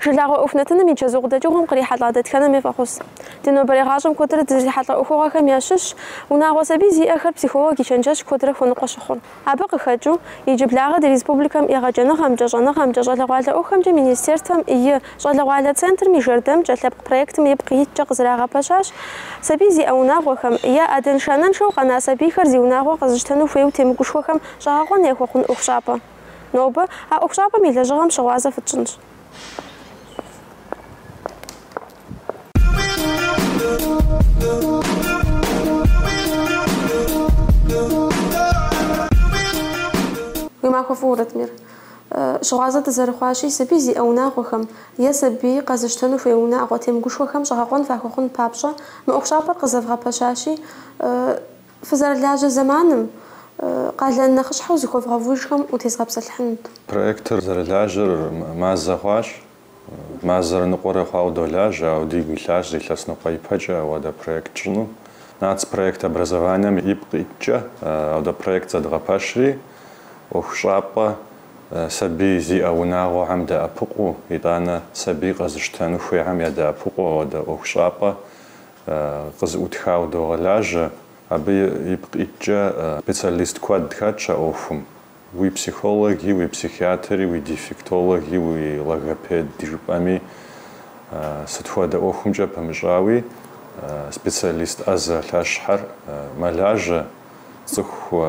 Жылагъуэ ӏуэху нэтыным и чэзу къыдэкӏыгъуэм кърихьэлӏа дэтхэнэми фӏэхъус. Ди нобэрей гъащӏэм куэдрэ дызрихьэлӏэ ӏуэхугъуэхэм ящыщщ унагъуэ сабий зиӏэхэр психолог и чэнджэщ куэдрэ хуэныкъуэ щыхъур. Абы къыхэкӏыу, иджыблагъэ ди республикэм егъэджэныгъэмкӏэ, щӏэныгъэмкӏэ, щӏалэгъуалэ ӏуэхухэмкӏэ Министерствэм и Щӏалэгъуалэ центрым и жэрдэмкӏэ лъэпкъ проектым ипкъ иткӏэ къызэрагъэпэщащ сабий зиӏэ унагъуэхэм, е адэншэ-анэншэу къэна сабийхэр зи унагъуэ къэзыщтэну хуейуэ темыгушхуэхэм щӏэгъэкъуэн яхуэхъун ӏуэхущӏапӏэ. Нобэ а ӏуэхущӏапӏэм и лэжьыгъэм щыгъуазэ фытщӏынщ. Уи махуэ фӏыуэ, Ратмир. Щыгъуазэ дызэрыхъуащи, сабий зиӏэ унагъуэхэм е сабий къэзыщтэну хуей унагъуэ темыгушхуэхэм щӏэгъэкъуэн фахуэхъун папщӏэ мы ӏуэхущӏапӏэр къызэвгъэпэщащи, Фызэрылажьэ зэманым къалэн нэхъыщхьэу зыхуэвгъэувыжхэм утезгъэпсэлъыхьынут. Проектыр зэрылажьэр мазэ хъуащ. Мазэрэ ныкъуэрэ хъуауэ долажьэ, ауэ дигу илъащ зы илъэс ныкъуэ ипэкӏэ ауэдэ проект тщӏыну. Нацпроект образованием ипкъ иткӏэ ауэдэ проект зэдгъэпэщри, ӏуэхущӏапӏэ сабий зиӏэ унагъуэхьэм дэӏэпыкъуу, итӏанэ сабий къэзыщтэну хуейхьэм ядэӏэпыкъуу ауэдэ ӏуэхущӏапӏэ къызыӏутхауэ догъэлажьэ, абы ипкъ иткӏэ специалист куэд хэтщ а ӏуэхум, уи психологи, уи психиатри, уи дефектологи, уи логопед жыпӏэми, сыт хуэдэ ӏуэхумкӏэ пэмыщӏауи специалист ӏэзэ лъэщхьэр мэлажьэ, цӏыху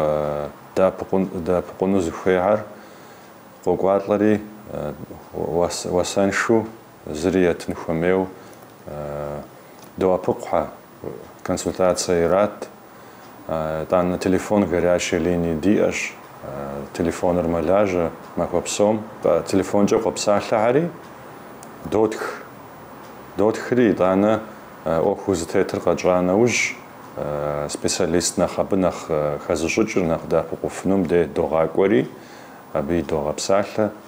дэӏэпыкъуну зыхуейхьэр къокӏуалӏэри, уасэншэу Зыри етын хуэмейуэ доӏэпыкъухьэ, консультацэ ират. Итӏанэ телефон горячей линии диӏэщ, телефоныр мэлажьэ махуэ псом. Телефонкӏэ къопсалъэхьэри, дотх. Дотхри, итӏанэ ӏуэху зытетыр къэтщӏа нэужь, специалист нэхъ абы нэхъ хэзыщӏыкӏыр, нэхъ дэӏэпыкъуфынум дей догъакӏуэри, абы идогъэпсалъэ.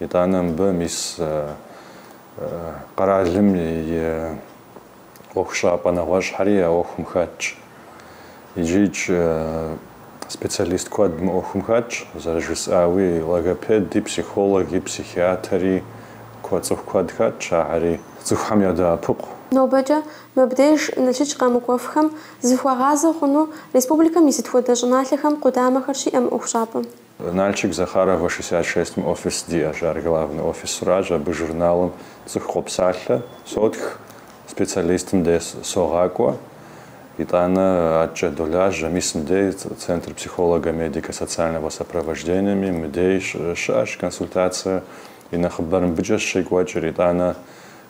Итӏанэ мыбы мис къэралым и ӏуэхущӏапӏэ нэгъуэщӏхьэри а ӏуэхум хэтщ. Иджы-икӏ специалист куэд мы ӏуэхум хэтщ, зэрыжысӏауи, логопеди, психологи, психиатри, куэ цӏыху куэд хэтщ, ахьэри цӏыхухэм ядэӏэпыкъу. Нобэкӏэ мыбдеж Налшык къэмыкӏуэфхэм зыхуагъазэ хъуну республикэм и сыт хуэдэ щӏыналъэхэм къудамэхэр щиӏэ мы ӏуэхущӏапӏэм? Нальчик Захаровэ шестьдесят шестым офис диӏэщ, ар главный офисращ, абы журналым цӏыху къопсалъэ, сотх, специалистым де согъакӏуэ, итӏанэ аткӏэ долажьэ, мис мыдей Центр психолого-медико-социального сопровождениеми мыдей щыӏэщ консультацие и нэхъыбэр мыбыкӏэщ щекӏуэкӏыр, итӏанэ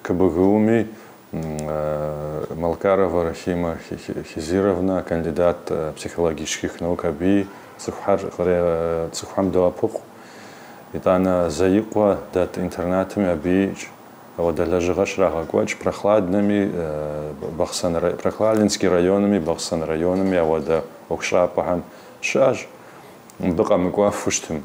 КБГУ-ми Малкарова Рахима Хизировна, кандидат психологических наук абыи цӏыхухэр цӏыхухэм доӏэпыкъу. Итӏанэ Заикъуэ дэт интернатым абыикӏ ауэдэ лэжьыгъэ щрагъэкӏуэкӏ. Прохладнэми, Прохладненский районми, Бахъсэн районми ауэдэ ӏуэхущӏапӏэхэм щыӏэщ. Мыбы къэмыкӏуэфу щытым.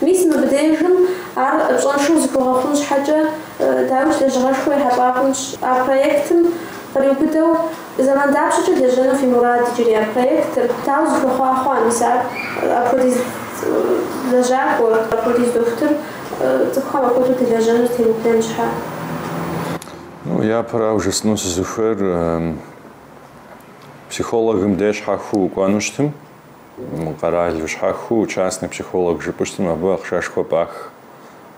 Мис мыбдежым ар пщӏэншэу зыхуэгъэхъун щхьэкӏэ, дауикӏ, лэжьыгъэшхуэ ехьэлӏа хъунщ а проектым. Къриубыдэу, зэман дапщэкӏэ лэжьэну фи мурад иджыри а проектыр? Дауэ зыхуэхъуа хъуа мис ар? Апхуэдиз лэжьакӏуэ, апхуэдиз дохутыр цӏыхухэм апхуэдэу дэлэжьэну темыплъэн щхьэ? Япэрауэ жысӏэну сызыхуейр, психологым дей щхьэхыу укӏуэну щытым. Къэралу щхьэхыу частный психолог жыпӏэу щытым абы ахъшэшхуэ пӏах.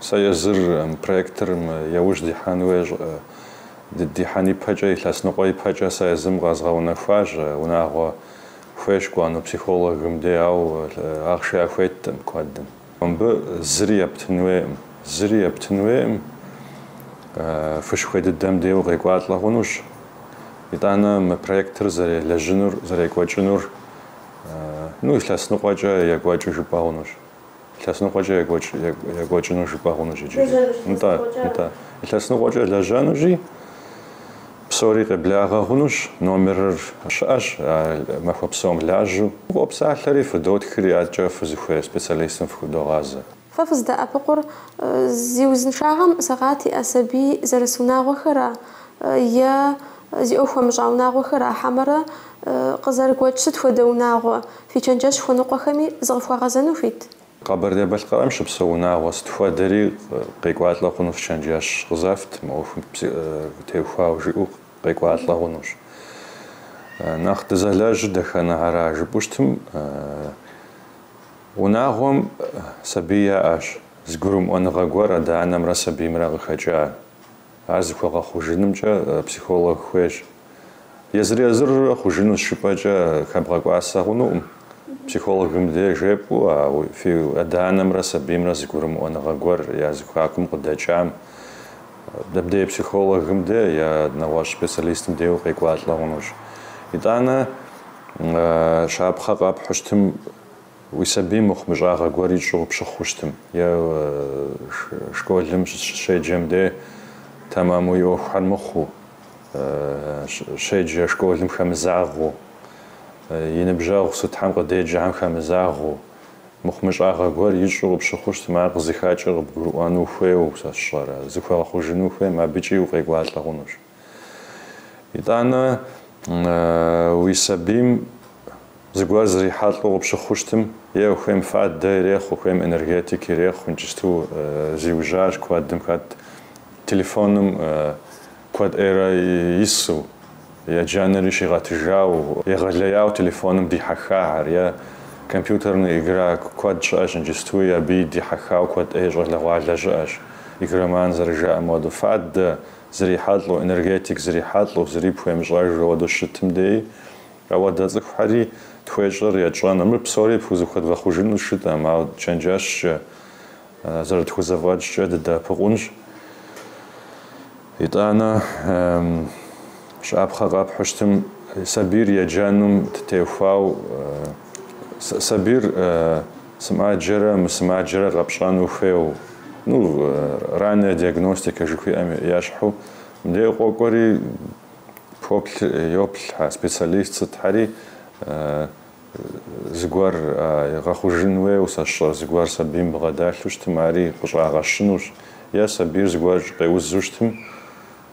Сэ езыр мы проектым яужь дихьэн хуейщ, дихьэн ипэкӏэ, илъэс ныкъуэ ипэкӏэ сэ езым къэзгъэунэхуащ. Унагъуэ хуейщ кӏуэну психологым дей, ауэ ахъшэ яхуеткъым куэдым. Мыбы зыри ептын хуейкъым. Зыри ептын хуейкъым. Фыщыхуей дыдэм дей укъекӏуалӏэ хъунущ. Итӏанэ мы проектыр зэрелэжьынур, зэрекӏуэкӏынур. Ну, илъэс ныкъуэкӏэ екӏуэкӏыу жыпӏэ хъунущ. Илъэс ныкъуэкӏэ екӏуэкӏыну жыпӏэ хъунущ иджыри. Нтӏэ, нтӏэ. Илъэс ныкъуэкӏэ лэжьэнущи, псори къеблагъэ хъунущ, номерыр щыӏэщ, махуэ псом лажьэу. Фыкъопсалъэри, фыдотхри, адэкӏэ фызыхуей специалистым фыхудогъазэ. Фэ фыздэӏэпыкъур зи узыншагъэм сэкъат иӏэ сабий зэрыс унагъуэхэра е зи ӏуэху хуэмыщӏа унагъуэхэра, хьэмэрэ къызэрыгуэкӏ сыт хуэдэ унагъуэ, фи чэнджэщ хуэныкъуэхэми зыкъыфхуагъэзэну хуит? Къэбэрдей-Балъкъэрым щыпсэу унагъуэ сыт хуэдэри къекӏуалӏэ хъуну фи чэнджэщ къызэфт, мы ӏуэхум теухуауэ жиӏэу къекӏуалӏэ хъунущ. Нэхъ дызэлэжьыр дэтхэнэ ара жыпӏэу щытым, Унагъуэм сабий яӏэщ, зыгурымыӏуэныгъэ гуэр адэ-анэмрэ сабиймрэ къыхэкӏа. Ар зыхуэгъэхъужынымкӏэ психолог хуейщ. Езыр-езырурэ хъужыну зыщӏыпӏэкӏэ хэбгъэкӏуасэ хъунукъым. Психологым де жепӏэу а фи адэ-анэмрэ сабиймрэ зыгурымыӏуэныгъэ гуэр я зэхуакум къыдэкӏам, дэбдей психологым де е нэгъуэщӏ специалистым дей укъекӏуалӏэ хъунущ. Итӏанэ щапхъэ къэпхьу щытым Уи сабийм мыхъумыщӏагъэ гуэр ищӏу къыпщыхъу щытым, е школым щыщеджэм де тэмэму и ӏуэхухэр мыхъуу, щеджэ школым хэмызагъэу, и ныбжьэгъу сытхьэм къыдеджэхэм хэмызагъэу, мыхъумыщӏагъэ гуэр ищӏу къыпщыхъу щытым, ар къызыхэкӏыр къыбгурыӏуэну ухуейуэ сэ сщӏэрэ, зыхуэгъэхъужыну ухуейм, абыкӏи укъекӏуалӏэ хъунущ. Итӏанэ, уи сабийм зыгуэр зрихьэлӏэу къыпщыхъуу щытым, е хуейм фадэ ирехъу, хуейм энергетик ирехъу, иджысту зиужьащ куэдым хэт телефоным куэд ӏейрэ ису, еджэнри щигъэтыжау, егъэлеяуэ телефоным дихьэхахэр, е компьютернэ игра куэд щыӏэщ иджыстуи, абыи дихьэхауэ куэд ӏей щӏалэгъуалэ щыӏэщ, игроман зэрыжаӏэм хуэдэу. Фадэ. зрихьэлӏэу, энергетик зрихьэлӏэу, зыри пхуемыщӏэж ауэдэу щытым деи, ауэ дэ цӏыхухьэри тхуещӏэр етщӏэну, мыр псори пхузыхуэдгъэхъужыну щытӏэм, ауэ чэнджэщкӏэ, зэрытхузэфӏэкӏкӏэ дыдэӏэпыкъунщ. Итӏанэ щапхъэ къэпхьу щытым, сабийр еджэнум теухуау, сабийр, Сымаджэрэ мысымаджэрэ къэпщӏэну хуейу, ну, ранняя диагностика жыхуиӏэм ещхьу, мыдеу къокӏуэри поплъ, йоплъ а специалист сытхьэри, зыгуэр гъэхъужын хуейуэ, сэ сщӏэр, зыгуэр сабийм бгъэдэлъу щытым, ари къыщӏагъэщынущ, е сабийр зыгуэр къеузу щытым,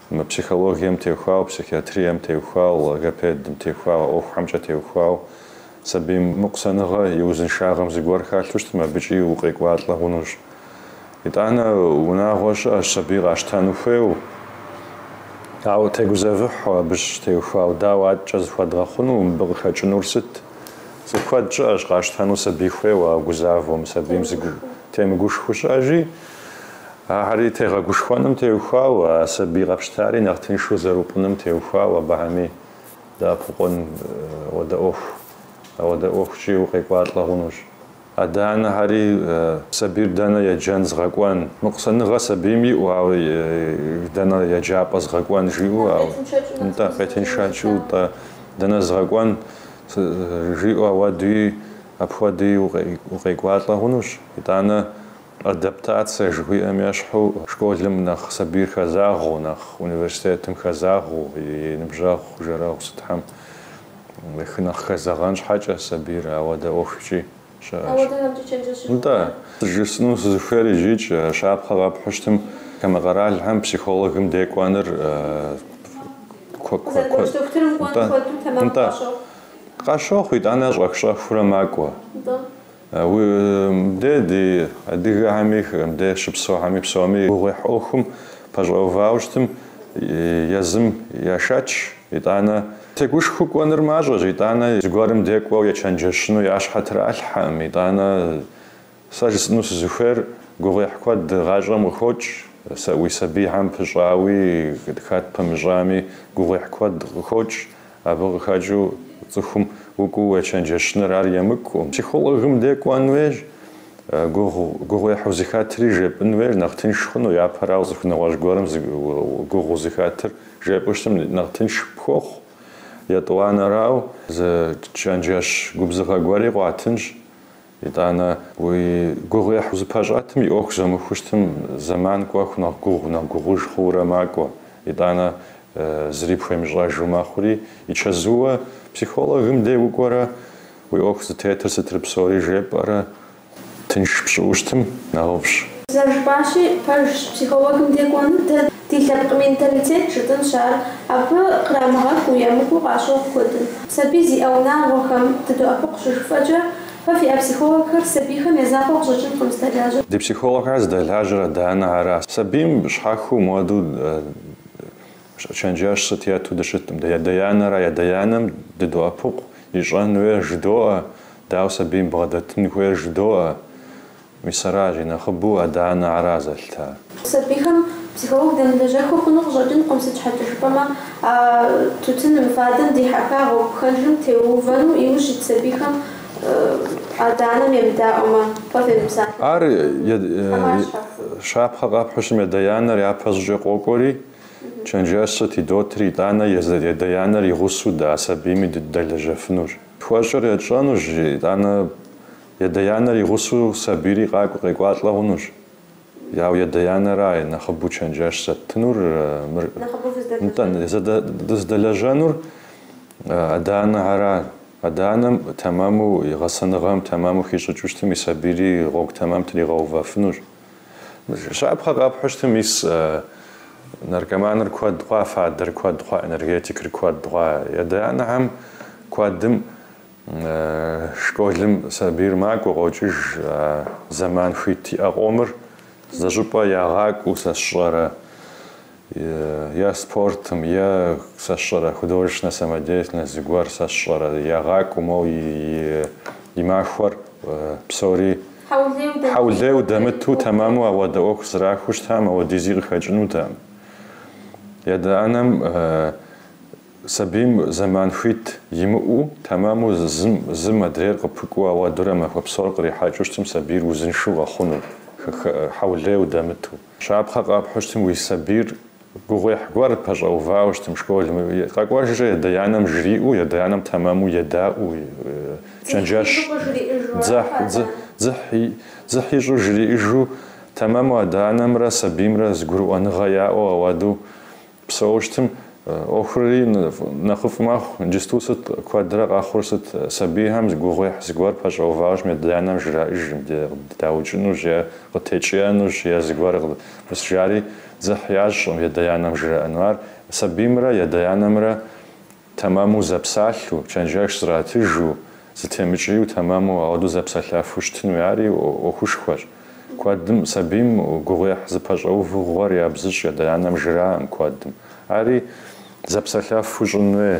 Мы психологием теухуау, психиатрием теухуау, логопедым теухуау, а ӏуэхухэмкӏэ теухуау сабийм мыкъусаныгъэ и узыншагъэм зыгуэр хэлъу щытым, абыкӏи укъекӏуалӏэ хъунущ. Итӏанэ унагъуэ щыӏэщ сабий къащтэну хуейуэ, ауэ тегузэвыхьу абы щытеухуау, дауэ адэкӏэ зыхуэдгъэхъуну, мыбы къыхэкӏынур сыт? Цӏыху куэд щыӏэщ къащтэну сабий хуейуэ, ауэ гузавэу мы сабийм зыгу темыгушхуу щыӏэщи, Ахэри тегъэгушхуэным теухуауэ, а сабий къэпщтари нэхъ тыншу зэрыупӏыным теухуауэ абыхэми дэӏэпыкъун хуэдэ ӏуэху. Ауэдэ ӏуэхукӏи укъекӏуалӏэ хъунущ. Адэ-анэхэри сабийр дэнэ еджэн згъэкӏуэн, мыкъусаныгъэ сабийм иӏэу, ауэ дэнэ еджапӏэ згъэкӏуэн жиӏэу, ау, нтӏэ, къетыншэкӏыу, нтӏэ, дэнэ згъэкӏуэн жиӏэу ауэдуи апхуэдуи укъекӏуалӏэ хъунущ. Итӏанэ. Адаптация жыхуиӏэм ещхьу, школым нэхъ сабийр хэзагъэу, нэхъ университетым хэзагъэу, и ныбжьэгъу, жэрэгъу сытхэм хы нэхъ хэзэгъэн щхьэкӏэ сабийр ауэдэ ӏуэхукӏи щыӏэщ. Нтӏэ, сэ жысӏэну сызыхуейр ижьыкӏ, щапхъэ къэпхьущтым, хамэ къэралхэм психологым де кӏуэныр куэд. Нтӏэ, къащохъу, итӏанэ щӏэх-щӏэхыурэ макӏуэ. Мыбдеж ди адыгэхэми мыбдеж щыпсэухэми псоми гугъуехь ӏуэхум пэщӏэувауэ щытым езым яшэч, итӏанэ тегушхуэу кӏуэныр мащӏэщ, итӏанэ зыгуэрым де кӏуэу ечэнджэщыну я щхьэ тралъхьэкъым, итӏанэ сэ жысӏэну сызыхуейр гугъуехь куэд гъащӏэм къыхокӏ, сэ уи сабийхэм пыщӏауи хэт пэмыщӏами гугъуехь куэд къыхокӏ, Абы къыхэкӏыу цӏыхум укӏуу уечэнджэщыныр ар емыкӏукъым, психологым де кӏуэн хуейщ, гугъу, гугъуехь узыхэтри жепӏэн хуейщ нэхъ тынш хъуну, япэрауэ цӏыху нэгъуэщӏ гуэрым зы гугъу узыхэтыр жепӏэу щытым нэхъ тынш пхуохъу, етӏуанэрау зы чэнджэщ губзыгъэ гуэри къуатынщ, Итӏанэ, уи гугъуехь узыпэщӏэтым, и ӏуэху зумыхуэу щытым зэман кӏуэху нэхъ гугъу, нэхъ гугъуж хъуурэ макӏуэ. Итӏанэ, зыри пхуемыщӏэжу мэхъури, и чэзууэ, психологым дей укӏуэрэ, уи ӏуэху зытетыр сытри псори жепӏэрэ тынш пщӏыӏуу щытым, нэхъыфӏщ. Зэрыжыпӏащи, пэжщ, психологым дей кӏуэныр дэ Ди лъэпкъ менталитет жытӏынщ ар, абы кърамыгъэкӏуу емыкӏу къащохъу куэдым. Сабий зиӏэ унагъуэхэм дыдоӏэпыкъу щыжыфӏэкӏэ, фэ фиӏэ психологхэр сабийхэм я закъуэ къыщӏэкӏынкъым зыдэлажьэр. Ди психологхэр зыдэлажьэр адэ-анэ ара? Сабийм щхьэхыу моду чэнджэщ сыт етту дыщыткъым дэ, ядэ-янэра. Ядэ-янэм дыдоӏэпыкъу ищӏэн хуейр жыдоӏэ, дауэ сабийм бгъэдэтын хуейр жыдоӏэ. Мис аращи нэхъыбэу адэ-анэ ара зэлъытар. Сабийхэм психолог дэмылэжьэхыу хъуну къыщӏэкӏынкъым, сыт щхьэкӏэ жыпӏэмэ, а тутыным, фадэм дихьэха гъуэгу пхэнжым теувэну, иужь ит сабийхэм адэ-анэм емыдаӏуэмэ, фэ фемыпсалъэ. Ар щапхъэ къэпхьу щытым, ядэ-янэр япэ щӏыкӏэ къокӏуэри, чэнджэщ сыт идотри, итӏанэ ядэ-янэр и гъусэу дэ а сабийми дыдэлэжьэфынущ. Тхуэщӏыр етщӏэнущ, итӏанэ Ядэ-янэр и гъусэу сабийри къакӏуэ къекӏуалӏэ хъунущ. Ауэ ядэ-янэрай нэхъыбэу чэнджэщ зэттынур, итӏанэ дыздэлэжьэнур адэ-анэхьэрай. Адэ-анэм тэмэму и гъэсэныгъэм тэмэму хищӏыкӏыу щытым и сабийри гъуэгу тэмэм тригъэувэфынущ. Щапхъэ къэпхьу щытым мис наркоманыр куэд хъуа, фадэр куэд хъуа, энергетикыр куэд хъуа. Ядэ-янэхьэм куэдым. Школым сабийр макӏуэ, къокӏыж, а зэман хуит иӏэ къомыр зыщӏыпӏэ ягъакӏуэу сэ сщӏэрэ е спортым, е сэ сщӏэрэ художественнэ самодеятельность зыгуэр сэ сщӏэрэ ягъакӏуэу моуэ и махуэр псори хьэулейуэ дэмыту тэмэму ауэдэ ӏуэху зэрахуэу щытам, ауэдизи къыхэкӏынутэкъым. Ядэ-анэм Сабийм зэман хуит имыӏэу, тэмэму зым, зым адрейр къыпыкӏуу ауэдурэ махуэ псор кърихьэкӏыу щытым сабийр узыншэу къэхъуну, хьэулейуэ дэмыту. Щапхъэ къэпхьу щытым уи сабийр гугъуехь гуэр пэщӏэувауэ щытым, школ къэкӏуэжрэ ядэ-анэм жриӏэу, ядэ-анэм тэмэму едаӏэу, чэнджэщ дзыхь ищӏу жриӏыжу, тэмэму адэ-анэмрэ сабиймрэ зыгурыӏуэныгъэ яӏэу ауэду, Псэу щытым ӏуэхури нэхъыфӏ мэхъу, иджысту сыт куэдрэ къэхъур, сыт сабийхэм гугъуехь зыгуэр пэщӏэуващӏэм ядэ-анэм жраӏыжым, даукӏынущ е къытекӏиенущ е зыгуэр къыпыщӏ жари дзыхь ящӏым ядэ-анэм жраӏэну. Ар сабиймрэ ядэ-анэмрэ Тэмэму зэпсалъу, чэнджэщ зратыжу, зытемыкӏиеу тэмэму ауэдэу зэпсэлъафу щытын уей ари ӏуэхушхуэщ. Куэдым сабийм гугъуехь зыпэщӏэувыгъуэр ябзыщӏ адэ-анэм жраӏым куэдым. Ари зэпсэлъафу щӏын уей.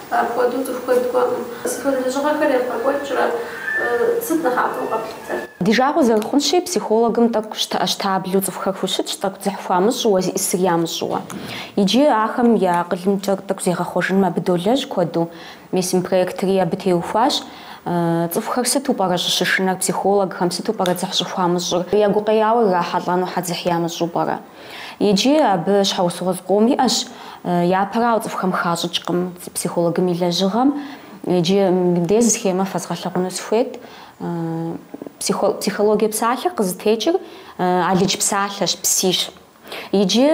Апхуэдэу цӏыху куэд кӏуэкъым. Сыт хуэдэ лэжьыгъэхэр ебгъэкӏуэкӏрэ? Сыт нэхъапэу къэплъытэр? Ди жагъуэ зэрыхъунщи, психологым тӏэкӏу щтэӏэщтаблэу цӏыхухэр хущытщ, тӏэкӏу дзыхь хуамыщӏыуэ, зищӏысыр ямыщӏыуэ. Иджы ахэм я акъылымкӏэ тӏэкӏу зегъэхъуэжыным абы долэжь куэду. Мес мы проектри абы теухуащ. Цӏыхухэр сыту пӏэрэ щӏыщышынэр психологхэм, сыту пӏэрэ дзыхь щӏыхуамыщӏыр? Я гукъеяуэ ирахьэлӏэну щхьэ дзыхь ямыщӏу пӏэрэ? Иджы абы щхьэусыгъуэ зыкъом иӏэщ. Япэрауэ, цӏыхухэм хащӏыкӏкъым психологым и лэжьыгъэм. Иджы мыбдеж зы схемэ фэзгъэлъэгъуну сыхуейт. Психологие псалъэр къызытекӏыр алыдж псалъэщ, псищ. Иджы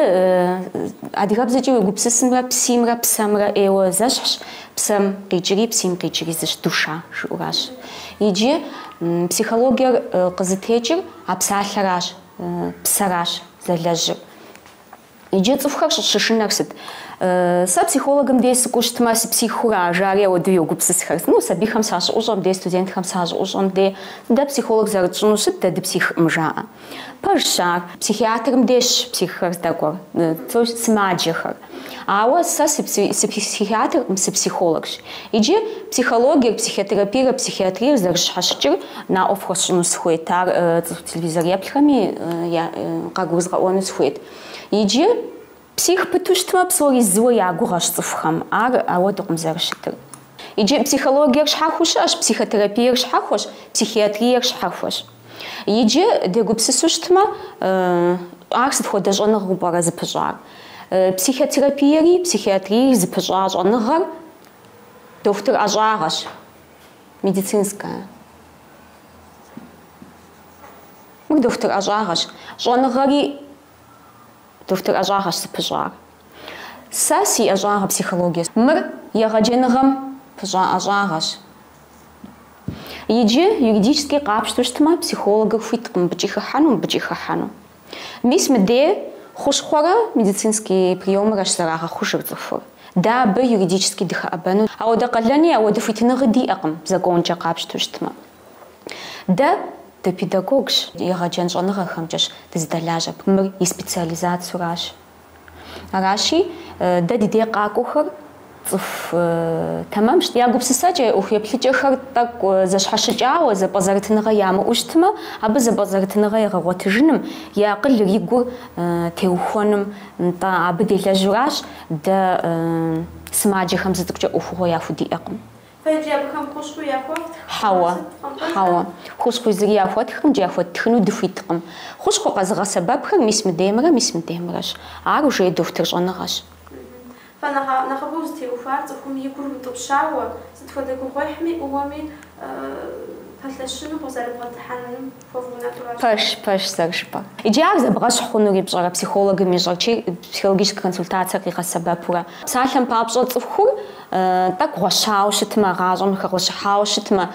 адыгэбзэкӏи уегупсысымрэ, псимрэ псэмрэ ӏейуэ зэщхьщ, псэм къикӏри, псим къикӏри зыщ, душа жыӏуращ. Иджы психологиер къызытекӏыр а псалъэращ. Псэращ зэлэжьыр. Иджы цӏыхухэр щӏыщышынэр сыт? Сэ психологым дей сыкӏуэу щытмэ, сыпсихура, жари ауэдэу йогупсысхэр. Ну, сабийхэм сащыӏущӏэм дей, студентхэм сащыӏущӏэм дей, дэ психолог зэрытщӏыну сыт дэ дыпсихкъым жаӏэ. Пэжщ ар. Психиатрым дейщ психхэр здэкӏуэр, сымаджэхэр. Ауэ сэ сыпсихиатркъым, сыпсихологщ. Иджы психологиер, психотерапиерэ психиатриер зэрыщхьэщыкӏыр наӏуэ фхуэсщӏыну сыхуейт, ар цӏыху телевизор еплъхэми къагурызгъэӏуэну сыхуейт. Иджы псих пыту щытмэ, псори зыуэ я гугъэщ цӏыхухэм, ар ауэдукъым зэрыщытыр. Иджы психологиер щхьэхуэу щыӏэщ, психотерапиер щхьэхуэщ, психиатриер щхьэхуэщ. Иджы, дегупсысу щытмэ, ар сыт хуэдэ щӏэныгъэу пӏэрэ зыпыщӏар? Психотерапиери психиатриери зыпыщӏа щӏэныгъэр дохутыр ӏэщӏагъэщ, медицинская. Мыр дохутыр ӏэщӏагъэщ. Щӏэныгъэри дохутыр ӏэщӏагъэщ зыпыщӏар. Сэ си ӏэщӏагъэ психологиещ. Мыр егъэджэныгъэм пыщӏа ӏэщӏагъэщ. Иджы, юридически къапщтэу щытмэ, психологыр хуиткъым мыбыкӏи хыхьэну, мыбыкӏи хыхьэну. Мис мыде, хущхъуэрэ медицинский приемырэщ зэрагъэхъужыр цӏыхур. Дэ абы юридически дыхэӏэбэну ауэдэ къалэни, ауэдэ хуитыныгъи диӏэкъым, законкӏэ къапщтэу щытмэ. Дэ дыпедагогщ, егъэджэн щӏэныгъэхэмкӏэщ дызыдэлажьэр, мыр и специализациеуращ. Аращи, дэ ди дей къакӏуэхэр цӏыху тэмэмщ. Я гупсысэкӏэ, ӏуэху еплъыкӏэхэр тӏэкӏу зэщхьэщыкӏауэ, зэпӏэзэрытыныгъэ ямыӏэу щытмэ, абы зэпӏэзэрытыныгъэ егъэгъуэтыжыным, и акъылыр и гур теухуэным, нтӏэ, абы делэжьуращ дэ сымаджэхэм зы цӏыкӏукӏэ ӏуэхугъуэ яхудиӏэкъым. Иджы абыхэм хущхъуи яхуэфтх, Хьэуэ, къэвгъэсэбэпкъым, пэжкъэ? хьэуэ. Хущхъуи зыри яхуэттхкъым икӏи яхуэттхыну дыхуиткъым. Хущхъуэ къэзыгъэсэбэпхэр мис мыдеймрэ мис мыдеймрэщ. Ар уже и дохутыр щӏэныгъэщ. Фэ нэхъ нэхъыбэу зытеухуар цӏыхум и гур утӏыпщауэ, сыт хуэдэ гугъуехьми ӏууэми пэлъэщыну къызэрыбгъэдыхьэным. Пэжщ, пэжщ, зэрыжыпӏэр. Иджы ар зэбгъэщхь хъунури пщӏэрэ, психологым ищӏэр чи, психологическэ консультацие къигъэсэбэпурэ? Псалъэм папщӏэ, цӏыхур тӏэкӏу гъуэщауэ щытмэ, гъащӏэм хэгъуэщыхьауэ щытмэ,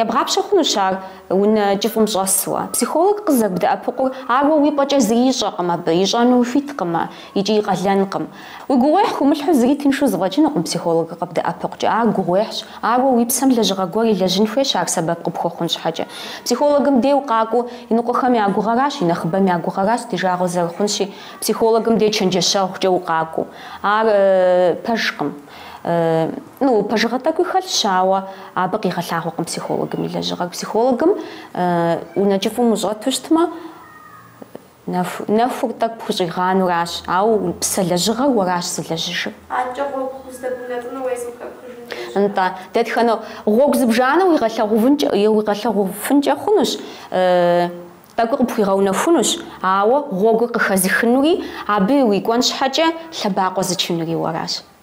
ебгъапщэ хъунущ ар унэ кӏыфӏым щӏэсуэ. Психолог къызэрыбдэӏэпыкъур ар уэ уи пӏэкӏэ зыри ищӏэкъым абы, ищӏэну хуиткъымэ икӏи и къалэнкъым. Уи гугъуехь хумылъхьу зыри тыншу зыфӏэкӏынукъым, психологыр къыбдэӏэпыкъукӏэ, ар гугъуехьщ, ауэ уи псэм лэжьыгъэ гуэр илэжьын хуейщ ар сэбэп къыпхуэхъун щхьэкӏэ. Психологым дей укъакӏуэу, иныкъуэхэм я гугъэращ, и нэхъыбэм я гугъэращ ди жагъуэ зэрыхъунщи, психологым дей чэнджэщэгъукӏэ укъакӏуэу. Ар пэжкъым. Ну, пэжыгъэ тӏэкӏуи хэлъщ, ауэ абы къигъэлъагъуэкъым психологым и лэжьыгъэр. Психологым унэ кӏыфӏым ущӏэту щытмэ, Нэхур тӏэкӏу пхущӏигъануращ, ауэ псэ лэжьыгъэр уэращ зылэжьыжыр. Нтӏэ, дэтхэнэ гъуэгу зыбжанэу уигъэлъэгъуфынкӏэ хъунущ, тӏэкӏуи къыпхуигъэунэхунущ, ауэ гъуэгур къыхэзыхынури, абы уикӏуэн щхьэкӏэ лъэбакъуэ зычынури уэращ.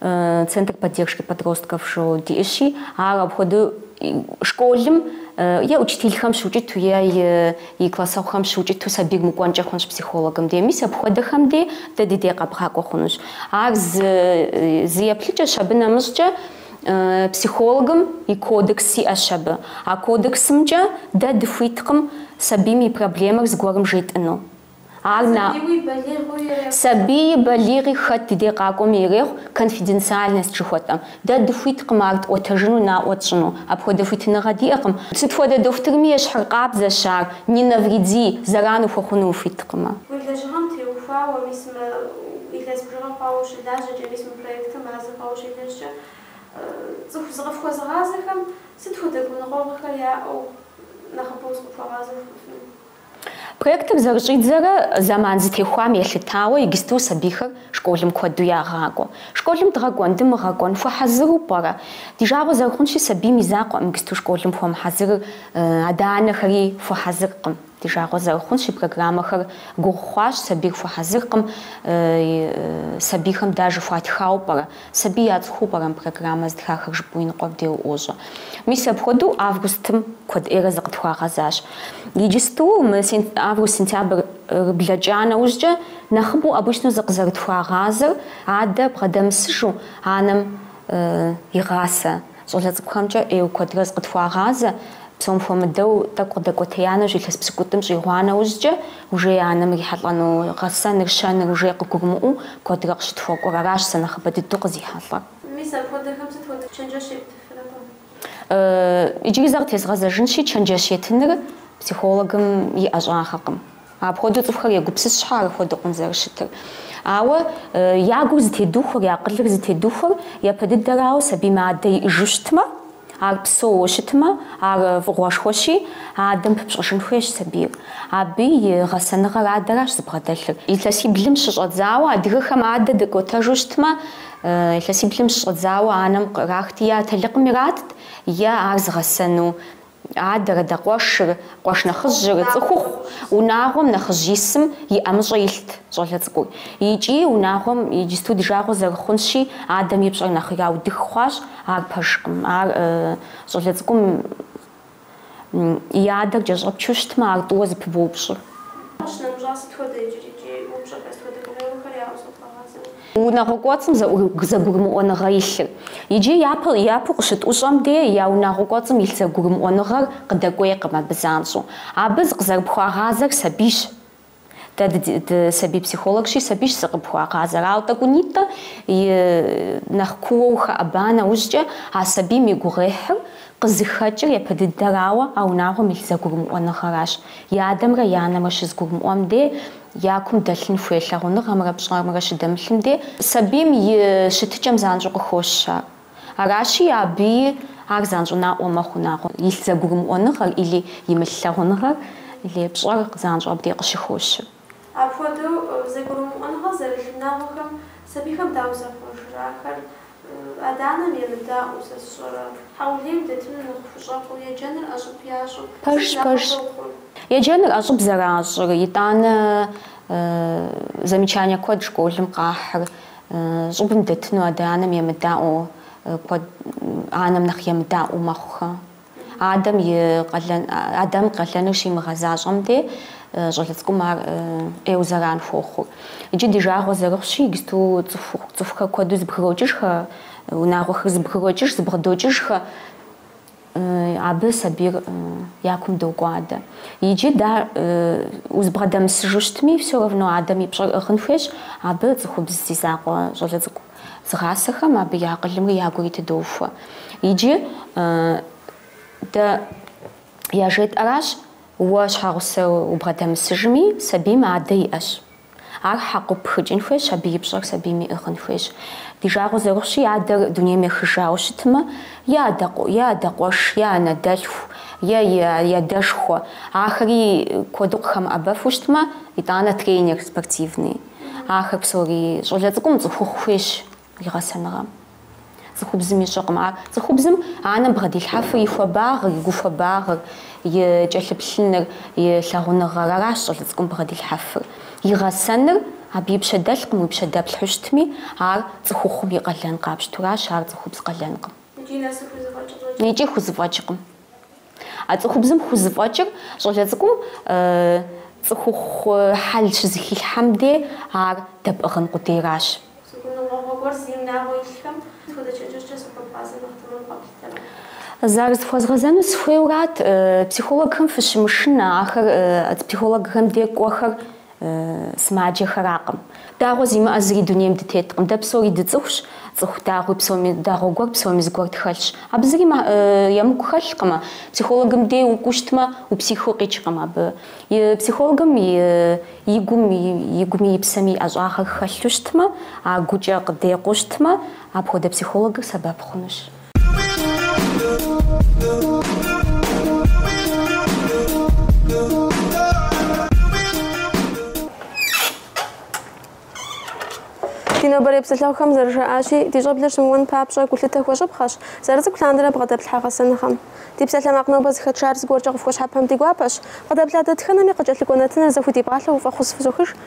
Центр поддержки подростков жиӏэу диӏыщи, ар апхуэдэу школым е учителхэм щыукӏыту, е и классэгъухэм щыукӏыту сабийр мыкӏуэнкӏэ хъунщ психологым де. Мис апхуэдэхэм де дэ ди дей къэбгъакӏуэ хъунущ. Ар зы зы еплъыкӏэщ, абы нэмыщӏкӏэ психологым и кодекс иӏэщ абы. А кодексымкӏэ дэ дыхуиткъым сабийм и проблемэр зыгуэрым жетӏыну. Сабийи балигъи хэт ди дей къакӏуэми ирехъу конфиденциальность жыхуэтӏэм. Дэ дыхуиткъым ар тӏуэтэжыну наӏуэ тщӏыну, апхуэдэ хуитыныгъэ диӏэкъым. Сыт хуэдэ дохутырми ещхьыркъабзэщ ар, не навреди, зэран ухуэхъуну ухуиткъымэ. Уи лэжьыгъэм теухуауэ, мис мы илъэс бжыгъэ хъуауэ ущылажьэкӏэ, мис мы проектыр мазэ хъуауэ ущелэжькӏэ, цӏыху зыкъыфхуэзыгъазэхэм сыт хуэдэ гуныкъуэгъуэхэр яӏэу нэхъыбэу зыкъыпхуагъазэу? Проектыр зэрыщӏидзэрэ, зэман зытехуам елъытауэ иджысту сабийхэр школым куэду ягъакӏуэ. Школым дгъэкӏуэн, дымыгъэкӏуэн хуэхьэзыру пӏэрэ? Ди жагъуэ зэрыхъунщи, сабийм и закъуэкъым иджысту школым хуэмыхьэзырыр, адэ-анэхэри хуэхьэзыркъым. Ди жагъуэ зэрыхъунщи, программэхэр гугъу хъуащ, сабийр хуэхьэзыркъым, сабийхэм даже хуатхауэ пӏэрэ? Сабий яцӏыхуу пӏэрэ мы программэ зытхахэр жыпӏэу иныкъуэм де уӏуощӏэ. Мис апхуэдэу августым куэд ӏейрэ зыкъытхуагъэзащ. Иджысту мы август-сентябрыр блэкӏа нэужькӏэ, нэхъыбэу обычно зыкъызэрытхуагъазэр адэ бгъэдэмысыжу анэм игъасэ. Щӏалэ цӏыкӏухэмкӏэ ӏейуэ куэдрэ зыкъытхуагъазэ, псом хуэмыдэу тӏэкӏу къыдэкӏуэтея нэужь илъэс псыкӏутӏым щӏигъуа нэужькӏэ, уже анэм ирихьэлӏэну гъэсэныр, щэныр уже къыгурымыӏуэу куэдрэ къыщытхуэкӏуэр, аращ сэ нэхъыбэ дыдэу къызихьэлӏэр. Мис апхуэдэхэм сыт хуэдэ чэнджэщ ептыфыну? Иджыри зэ къытезгъэзэжынщи, чэнджэщ етыныр психологым и ӏэщӏагъэкъым. Апхуэдэу цӏыхухэр егупсыс щхьэ апхуэдэукъым зэрыщытыр. Ауэ я гур зытедухуэр, я акъылыр зытедухуэр япэ дыдэрауэ сабийм адэ иӏыжу щытмэ, ар псэууэ щытмэ, ар фӏыгъуэшхуэщи, адэм пыпщӏэжын хуейщ сабийр. Абы и гъэсэныгъэр адэращ зыбгъэдэлъыр. Илъэсиблым щыщӏэдзауэ адыгэхэм адэ дыкӏуэтэжу щытмэ, илъэсиблым щыщӏэдзауэ анэм кърахти, атэлыкъым иратт, е ар зыгъэсэну Адэр, адэ къуэшыр, къуэш нэхъыжьыр, цӏыхухъу, унагъуэм нэхъыжь исым и ӏэмыщӏэ илът щӏалэ цӏыкӏур. Икӏи унагъуэм иджысту ди жагъуэ зэрыхъунщи, адэм и пщӏэр нэхъ яудых хъуащ, ар пэжкъым. Ар щӏалэ цӏыкӏум и адэр кӏэщӏэпчу щытмэ, ар тӏууэ зыпыбоупщӏыр. Ащ нэмыщӏа сыт хуэдэ иджыри? Икӏи упщӏэхэр сыт хуэдэ? Проблемэхэр яӏэу зыфхуагъазэу. Унагъуэ кӏуэцӏым зэгурымыӏуэныгъэ илъыр. Иджы япэ, япэу къыщытӏущӏэм де я унагъуэ кӏуэцӏым илъ зэгурымыӏуэныгъэр къыдэкӏуейкъым абы занщӏэу. Абы зыкъызэрыпхуагъазэр сабийщ. Дэ дысабий психологщи, сабийщ зыкъыпхуагъазэр. Ауэ тӏэкӏунитӏэ нэхъ куууэ ухэӏэба нэужькӏэ, а сабийм и гугъуехьыр къызыхэкӏыр япэ дыдэрауэ а унагъуэм илъ зэгурымыӏуэныгъэращ. И адэмрэ и анэмрэ щызэгурымыӏуэм де я кум дэлъын хуей лъагъуныгъэмрэ пщӏэрымрэ щыдэмылъым де, сабийм и щытыкӏэм занщӏэу къыхощ ар. Аращи, абыи ар занщӏэу наӏуэ мэхъу унагъуэ илъ зэгурымыӏуэныгъэр или имылъ лъагъуныгъэр или пщӏэр занщӏэу абдей къыщыхощыр. Апхуэдэу зэгурымыӏуэныгъэ зэрылъ унагъуэхэм сабийхэм дауэ захъуэжрэ? Ахэр Адэ-анэм емыдаӏуэу сэ сщӏэрэ? Хьэулейм дэтыну нэхъ хущӏэкъуу, еджэныр ӏэщӏыб ящӏу, сэ Пэжщ, сынэхъыбэ пэжщ. ухъу. Еджэныр ӏэщӏыб зэращӏыр, итӏанэ замечание куэд школым къахьыр, щӏыбым дэтыну адэ-анэм емыдаӏуэу, куэд, анэм нэхъ емыдаӏуэу мэхъухэ. Адэм и къалэн, Адэм къалэныр щимыгъэзащӏэм де, щӏалэ цӏыкӏум ар ӏейуэ зэран хуохъур. Иджы ди жагъуэ зэрыхъущи, игсту цӏыху, цӏыхухэр куэду зыбгрокӏыжхэ, унагъуэхэр зыбгрокӏыж, зыбгъэдокӏыжхэ, абы сабийр я кум докӏуадэ. Иджы да узыбгъэдэмысыжу щытми, всё равно адэм и пщӏэр ӏыгъын хуейщ, абы цӏыхубз зи закъуэ щӏалэ цӏыкӏу. зыгъасэхэм абы я акъылымрэ я гури тыдоухуэ. Иджы дэ яжетӏэращ, уэ щхьэгъусэ убгъэдэмысыжми, сабийм адэ иӏэщ. Ар хьэкъыу пхыкӏын хуейщ, абы и пщӏэр сабийм иӏыгъын хуейщ. Ди жагъуэ зэрыхъущи, адэр дунейм ехыжауэ щытмэ, е адэ къуэш, е анэдэлъху, е и адэшхуэ, ахэри куэду къыхэмыӏэбэфу щытмэ, итӏанэ тренер спортивный. Ахэр псори щӏалэ цӏыкӏум цӏыхухъу хуейщ и гъэсэныгъэм. Цӏыхубзым ищӏэкъым ар. Цӏыхубзым анэм бгъэдилъхьэфыр и хуабагъыр, и гухуабагъыр, и кӏэлъыплъыныр, и лъагъуныгъэр, аращ щӏалэ цӏыкӏум бгъэдилъхьэфыр. И гъэсэныр абы и пщэ дэлъкъым, уи пщэ дэплъхьу щытми, ар цӏыхухъум и къалэн къапщтуращ, ар цӏыхубз къалэнкъым. Икӏи хузэфӏэкӏкъым. А цӏыхубзым хузыфӏэкӏыр щӏалэ цӏыкӏум цӏыхухъу хьэл щызыхилъхьэм де ар дэпӏыгъын къудейращ. Си гуныкъуэгъуэ гуэр си унагъуэ илъхэм сыт хуэдэ чэджэщкӏэ сыхуэпӏазэ нэхъ тэмэм къэплъытэрэ? Зэрызыхуэзгъэзэну сыхуейуэрат. Психологхэм фыщымышынэ, ахэр психологхэм де кӏуэхэр Сымаджэхэракъым. Дагъуэ зимыӏэ зыри дунейм дытеткъым. Дэ псори дыцӏыхущ, цӏыху дагъуи псоми, дагъуэ гуэр псоми зыгуэр тхэлъщ. Абы зыри емыкӏу хэлъкъымэ. Психологым де укӏуэу щытмэ, упсихыу къикӏкъым абы. Психологым и гум, и гуми, и псэми и ӏэщӏагъэр хэлъу щытмэ, а гукӏэ къыдекъуу щытмэ, апхуэдэ психологыр сэбэп хъунущ. Ди нобэрей псэлъэгъухэм зэрыжаӏащи, ди щӏэблэр щымыуэн папщӏэ гулъытэ хуэщӏыпхъэщ зэрыцӏыкӏу лъандэрэ бгъэдэплъхьэ гъэсэныгъэм. Ди псалъэмакъ нобэ зыхэтшар зыгуэркӏэ къыфхуэщхьэпэм ди гуапэщ. Къыдэплъа дэтхэнэми къыкӏэлъыкӏуэ нэтыныр зэхудипӏалъэу фӏэхъус фызохыж.